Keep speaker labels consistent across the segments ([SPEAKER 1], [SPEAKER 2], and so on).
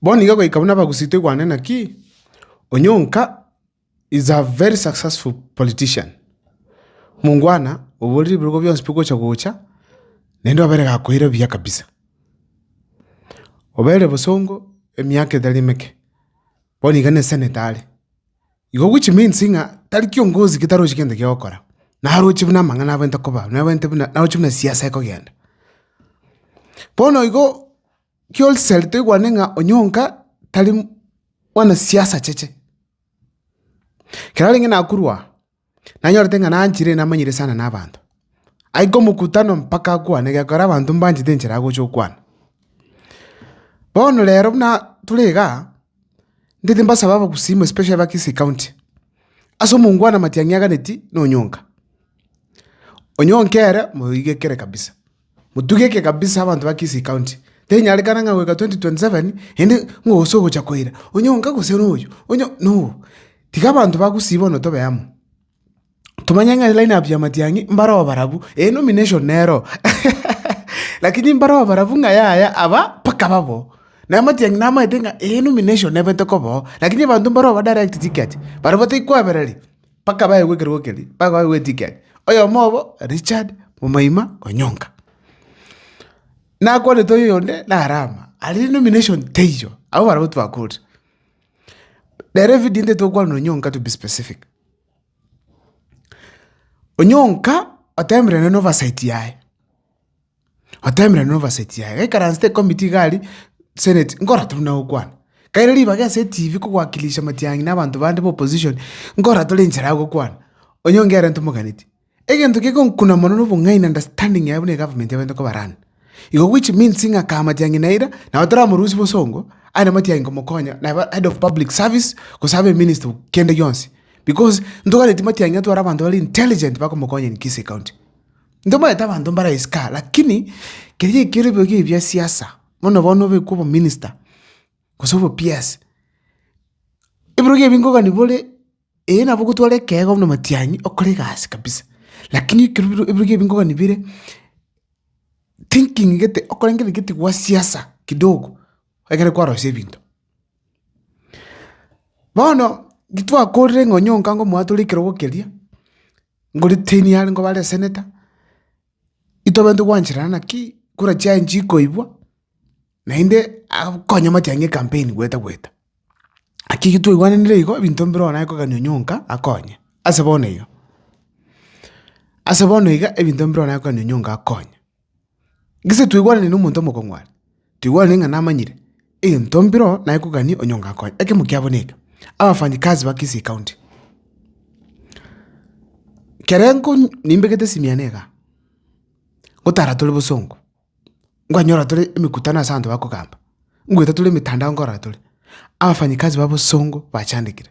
[SPEAKER 1] Bono iga goika buna bagusitwe igwane naki Onyonka is a very successful politician. Mongwana oborire ebirogo bionsi bigocha gocha naende obere gakoira buya kabisa. Obere bosongo emiaka etari emeke bono iga ne senator are. Igo which means ng'a tari kiongozi ketarochi gento giogokora. Naroche buna amang'ana abwenerete koba, nabwenerete buna naroche buna siasa ekogenda. Bono igo. Ki'oriseri toigwane ng'a onyonka tari mwana siasa cheche. Ekero narenge nakorwa aa, nanyorete ng'a nanchire namanyire sana na abanto. Aike omokutano mpaka akwane egekogera abanto mbanchete enchera agocha okwana. Bono rero buna tore iga, ntete mbasabe abagusii especially ba Kisii County, ase omongwana matiang'i aganeti na onyonka. Onyonka ere moigekere kabisa. Motugeke kabisa abanto ba Kisii County. Tenyarekana ng'a goika 2027 inde ng'a gose ogocha koira, onye onka gose noyo, onye noyo. Tiga abanto ba Gusii bono tobe amo. Tomanye ng'a line up ya Matiang'i mbare oborabu, ee nomination nero lakini mbare oborabu ng'a yaya aba mpaka babo. Naye Matiang'i namaete ng'a ee nomination nebete koba oo, lakini abanto mbare oba direct ticket, baria batai kwabereri. mpaka baegwe ekerogo keria, mpaka baegwe etigiki yaye. Oyomo obo Richard momoima onyonka. Nakwanete oyonde nare ama, aria nomination teiyo, abwo barabwo twakorire. Rero evidio ende tokwana onyonka to be specific. Onyonka otemerene noversight yaye. Otemerwe na obaseti yaye. Gaikaransete ecommittee iga aria, senate, nkorora toria buna gokwana. Kaire ribaga ase etibi kogoakilisha matiang'i na abanto bande ba opposition, nkorora toria enchera ya gokwana. Onyonge arenta omoganetie. Egento kegonkuna mono na obong'aini na understanding yaye buna egovernment ebaete koba run. Igo which means ng'a kaa matiang'i na eira, nabo toramorusie bosongo, aye na matiang'i komokonya, nabo head of public service, gose abe minister o kende gionsi. Because, ntogwete matiang'i atware abanto bare intelligent bakomokonya in Kisii county. Ntomanyete abanto mbaraisike aa, lakini keria ekiore boigo ebia siasa, bono bono obekwe obominster, gose obo PS, ebirogo ebi nkogani bore, eyi nabo ogotwara ekeego buna matiang'i okore egasi kabisa, lakini ekero biro ebirogo ebi nkogani bire, thinking gete okore gete gete gwa siasa kidogo, egere kwarosia ebinto. Bono, ntitwakorire ng'a onye onkango omwatore ekerogo keria. Ngoritini are ngo bare eseneta, itobwenerete gwancherana naki kura chiaye nchikoibwa, naende akonye amatiang'a ng'a ecampaign gweta gweta. Naki ekio twaigwananire igo ebinto mbire one aye kogania onye onka akonye, ase bono iga, ase bono iga ebinto mbire one aye kogania onye onka akonye. Gese twaigwanire nomonto omokong'u are, twaigwanire ng'a namanyire egento mbiro naye kogania onye onga nkonye. Ekemo kiabo neke, abafanyikazi ba Kisii County. Kere nko nimbegete simiana iga, ngotara tore bosongo, nkwanyora tore emekutano ase abanto bakogamba, ngoeta tore emetandao nkorora tore, abafanyikazi ba bosongo bachandekire.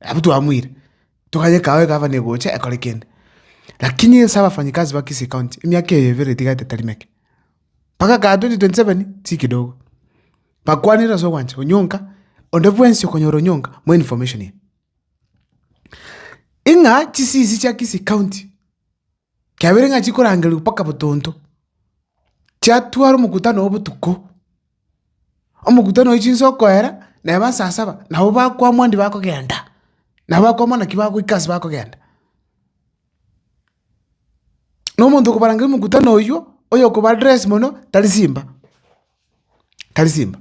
[SPEAKER 1] Abwo twamoire, tokanye ekaao egavana egocha ekore kende. Lakini inse abafanyikazi ba Kisii County, emiaka eye ebere etigate tari meke, mpaka kaa 2027 tiri kidogo. Bakwanire ase ogwancha onyonka, onde bwensi okonyora onyonka more information here. Ing'a chisiisi chia Kisii County. Kiabeire ng'a chikorangerigwa mpaka botonto, chiatwara omokutano oo botuko. Omokutano oyio chinsa okoera, na eba saa saba, nabo bakwamwa ndi bakogenda, nabo bakwamwa naki bagoika ase bakogenda. Na omonto okobarangeria omokutano oyio, oyo okoba address mono, tari simba. tari simba.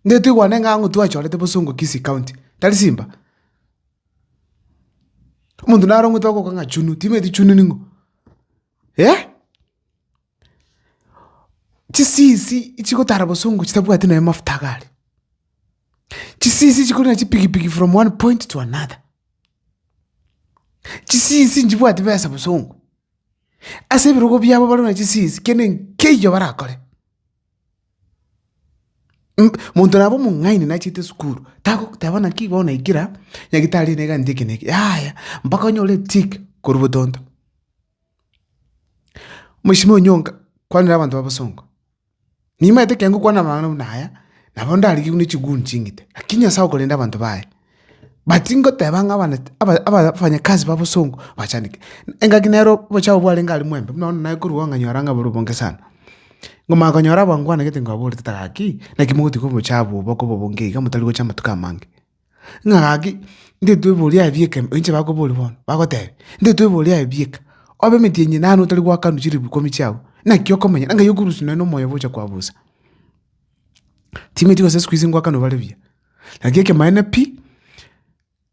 [SPEAKER 1] Nde toigwane ng'a ang'u twachorete bosongo Kisii county, tari simba. Omonto naro ng'weto ogoka ng'a chunu, timanyeti chunu ning'o? Eh? Chisisi chigotara bosongo chitabwati nonya amafuta iga aria. Chisisi chikori na chipigipigi from one point to another. Chisisi nchibwati besa bosongo. ase ebirogo biabo bare na chisiisi kende nkeiyo barakore. Mh- monto nabo omong'aini nachete esukuru, tagoteba naki igo naikire aa, nyagetari nigo anche eke na eke, yaya, mpaka onyore etick korwa botonto. Mweshimiwa Onyonga, kwanera abanto b'abasongo. Nimanyete ekiagera ngokwana amang'ana buna aya, nabo ndarigereru ne chiguni ching'iti, lakini Nyasae okorenda abanto baye. But ngoteba ng'a abana aba- aba- abafanyakazi babosongo bachandeke, engaki nero obochafu bwarenge aria mwaembe, buna bono naye korwa iga nyora ng'a bore obonge sana. Ngomanya konyora abangwana gete nkobaborete ng'a gaki, naki mogotiga obochafu obo okoba obonge iga motari gocha amatuko amange. ng'a gaki ndetweboria aye bieka ime, inche bakoboria bono, bagotebia ndetweboria aye bieka, obe emetienyi nani otari goakanwa chilifu ikomi chiago, naki okomanya ng'a ng'ai okorusia nonye na omoyo obo ocha koabusa. Timeti gose sikuizi ngoakanwe bare buya, naki ekemaene pi,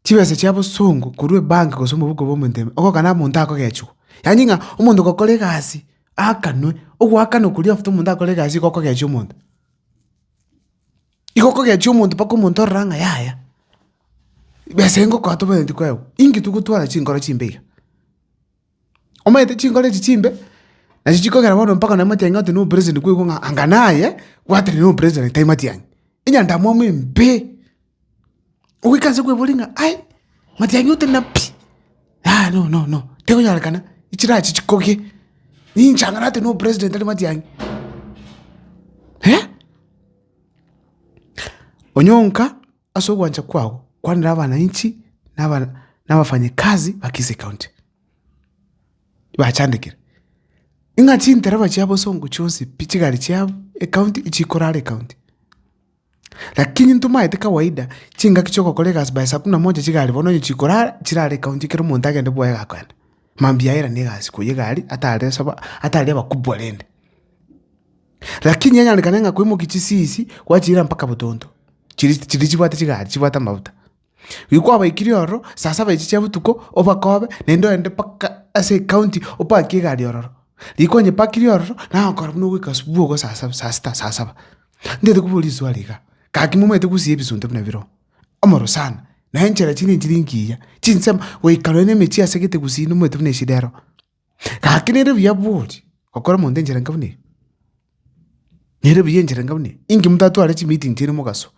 [SPEAKER 1] chibesa chia bosongo korwa ebank gose omofuko bwa omonto ime, ogokana omonto akogechiwa. Yaani ng'a omonto gokora egasi aakanwe, ogoakanwa koria after omonto akore egasi igo okogechia omonto. Igo kogechia omonto mpaka omonto orore ng'a yaya, besa engokoa tobanenetie koegwa, inki togotwara chinkoro chimbe iga? Omanyete chinkoro echi chimbe, nachi chikogera bono mpaka nonye mwatianyi oti na operation kwaigwa ng'a anga naye, gwatera na operation tari matianyi. Enyandamwamu embe. Ogoika nse kweboria ng'a aye, matiang'i ote na pi? Aa no no no, tekonyarekana, echiraha echi chikogie, ninche ang'e nate nopresident ere matiang'i. Eh! Onyonka ase ogwancha kwao kwanera abananchi na abana na abafanyikazi ba Kisii County, bachandekire ng'a chintereba chiabo songo chionsi pi chigari chiabo ecounty chikorara ecounty. Lakini ntomaete kawaida, chingaki chi'ogokora egasi by saa kumi na moja chiga are bono, onye chikorara, chirare county ekero omonto agende bwoye agakoenda. Mambia airane egasi koyia iga aria, atare sobo, atari abakubwa rende. Lakini anyarekane ng'a kwaimokia chisisi, gwachiira mpaka botonto, chiri chiri chibwate chigari chibwate amabuta. Riria kwabaikirie ororo, saa saba echi chia botuko, obakobe, naende ogende mpaka ase ecounty opaki egari ororo. Riria kwanyepakirie ororo, nagokora buna ogoika asubuhi igo saa saba, saa sita, saa saba. Ntaete kobua riswali igaa, gaki momaete gosiba ebisunte buna ebiroo? Omoro sana, na enchera chinde nchire nkiya, chinsemo, goika nonya na emechie asegete gusii nomoete buna echidero. Gaki nere buya bworia, gokora omonto enchera enka buna eye? Nere buya enchera enka buna eye? Inki motatware chimeeting chiaino mogasoa?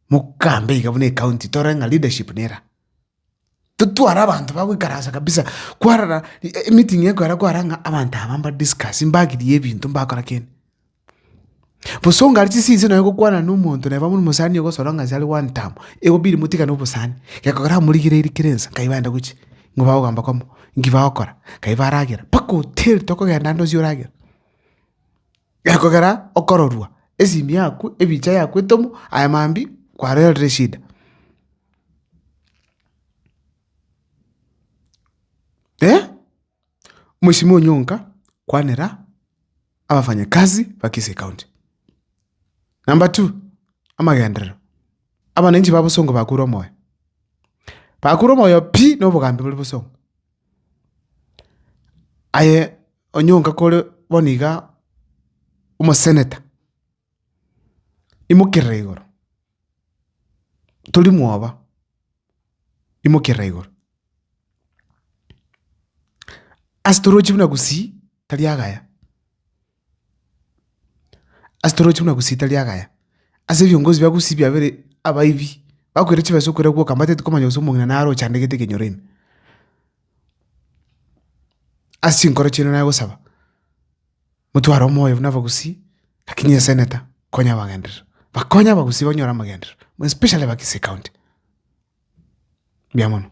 [SPEAKER 1] Mokambe iga buna ecounty torore ng'a leadership nera. Totware abanto bagoikaransa kabisa kwarora emeeting ekwera kwara ng'a abanto aba mbadiscusse mbagirie ebinto mbakora kende. Bosa onga are chisiisi nonye gokwana na omonto neba buna omosani ogosora ng'a ase are one term, egobidi motigane obosani, gekogera amorigereiri kera ensa nkai baenda gochia nigo bagogamba kwamo, nki bagokora, nkai baragera, mpaka otieri tokogenda ande onsi oragera. gekogera okororwa, esimi yaku, ebicha yaku etomo, aye mambia kwarerire eshida. Mheshimiwa Onyonka, kwanera abafanyakazi ba Kisii County. Number two, amagenderero, abananchi ba Bosungu bakure omoyo, bakure omoyo pi na obogambi bore Bosungu. Aye onyonka kore bono iga omoseneta, imokerere igoro, tori mwoba, imokerere igoro. Ase torochi buna gusii, tari agaya. Ase toroche buna gusita riagaya, ase ebiongozi bia gusii biabere abaibi, bakoira chibesa okoira gwoka mbatete komanya gose omong'ina naro ochandegete ekenyoro ime. Ase chinkoro chiaino naye gosaba, motware omoyo buna abagusii, lakini eseneta konya abagenderera, bakonye abagusii banyore amagenderero more especially aba kisii county, mbuya mono.